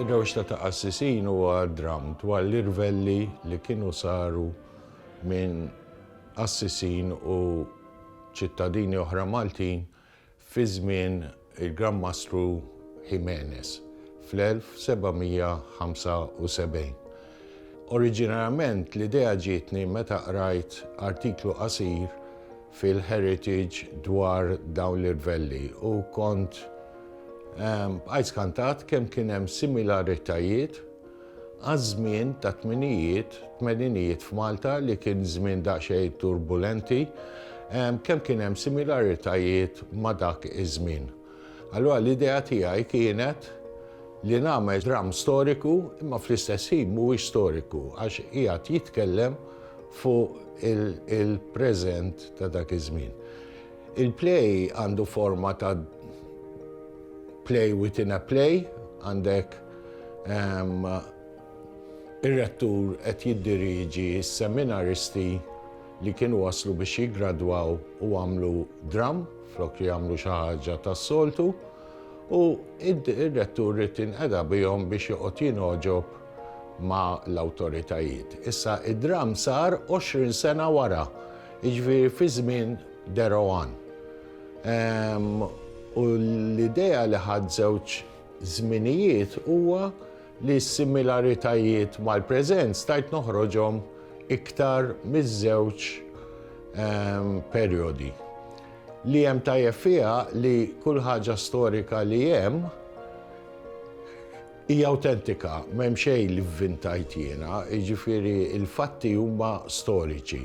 Ir-rewxta ta' qassisin huwa dramm dwar l-irvelli li kienu saru minn qassisin u ċittadini oħra Maltin fi żmien il-Gran Mastru Ximenes fl-1775. Oriġinarjament l-idea ġietni meta qrajt artiklu qasir fil-Heritage dwar dawn l-irvelli u kont bqajt skantat kemm kien hemm similaritajiet għaż-żmien tat-tminijiet, tmeninijiet f'Malta li kien żmien daqsxejn turbulenti, kemm kien hemm similaritajiet ma' dak iż-żmien. Allura l-idea tiegħi kienet li nagħmel dramm storiku imma fl-istess ħin mhuwiex storiku għax qiegħed jitkellem fuq il-preżent ta' dak iż-żmien. Il-play għandu forma ta' play within a play, għandek ehm, ir-rettur qed jiddirieġi s-seminaristi li kienu waslu biex jiggradwaw u għamlu dramm flok li jagħmlu xi ħaġa tas-soltu u ir-rettur rrid inqeda bihom biex joqgħod jingħoġob ma' l-awtoritajiet. Issa id-dramm sar 20 sena wara, jiġifieri fi żmien Deroan. Ehm, u l-idea li ħadd żewġ żminijiet huwa li s-similaritajiet mal-preżent stajt noħroġhom iktar miż-żewġ perjodi. Li hemm tajjeb fiha li kull ħaġa storika li hemm hija awtentika, m'hemm xejn li vvintajt jiena, jiġifieri l-fatti huma storiċi.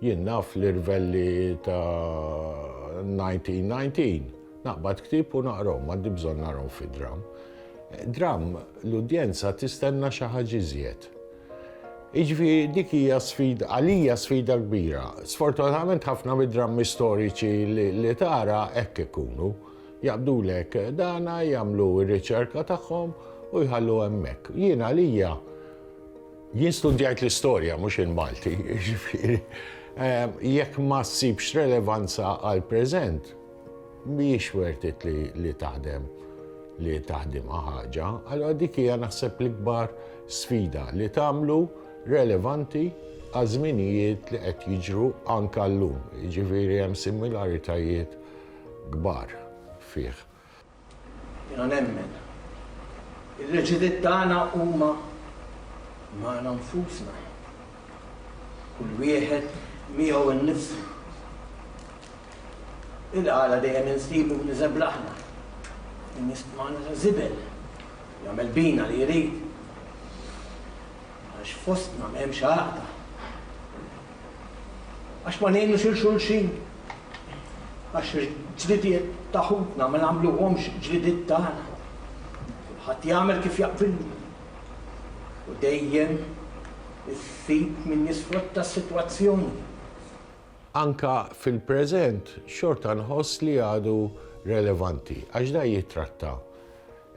Jien naf l-irvelli ta' 1919. Naqbad ktieb u naqrahom, m'għandi bżonn narhom fi dramm. Dramm l-udjenza tistenna xi ħaġa iżjed. Iġvi dik hija sfida, għalija sfida kbira. Sfortunatament ħafna mid-drammi storiċi li tara hekk ikunu. Jaqbdulek dana jagħmlu r-riċerka tagħhom u jħallu hemmhekk. Jien għalija Jien studjajt l-istorja mhux il-Malti, jiġifieri jekk ma ssibx relevanza għall-preżent, mhijiex worth it li taħdem li taħdimha ħaġa, allora dik hija naħseb l-ikbar sfida li tagħmlu relevanti għal żminijiet li qed jiġru anke llum. Jiġifieri hemm similaritajiet kbar fih. Jiena nemmen li l-leġiliet tagħna huma magħna nfusna. Kull wieħed miegħu nnifsu. Il-għala dejjem insibu b'niżebla aħna. Min jistmana ta' żibel, jagħmel bina li jrid. Għax fostna m'hemmx għaqda. Għax ma ngħinux 'il xulxin. Għax il-ġlidiet ta' ħutna ma nagħmluhomx ġlidiet tagħna. Kulħadd jagħmel kif jaqbillu. U dejjem issib min jisfrutta s-sitwazzjoni. Anke fil-preżent xorta nħoss li għadu relevanti għax dan jittratta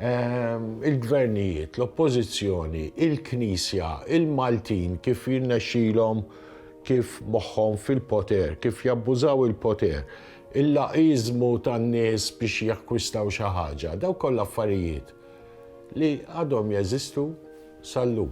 il-gvernijiet, l-oppożizzjoni, il-Knisja, il-Maltin kif jirnexxilhom kif moħħhom fil-poter, kif jabbużaw il-poter, il-laqiżmu tan-nies biex jakkwistaw xi ħaġa, dawk kollha affarijiet li għadhom jeżistu sal-lum.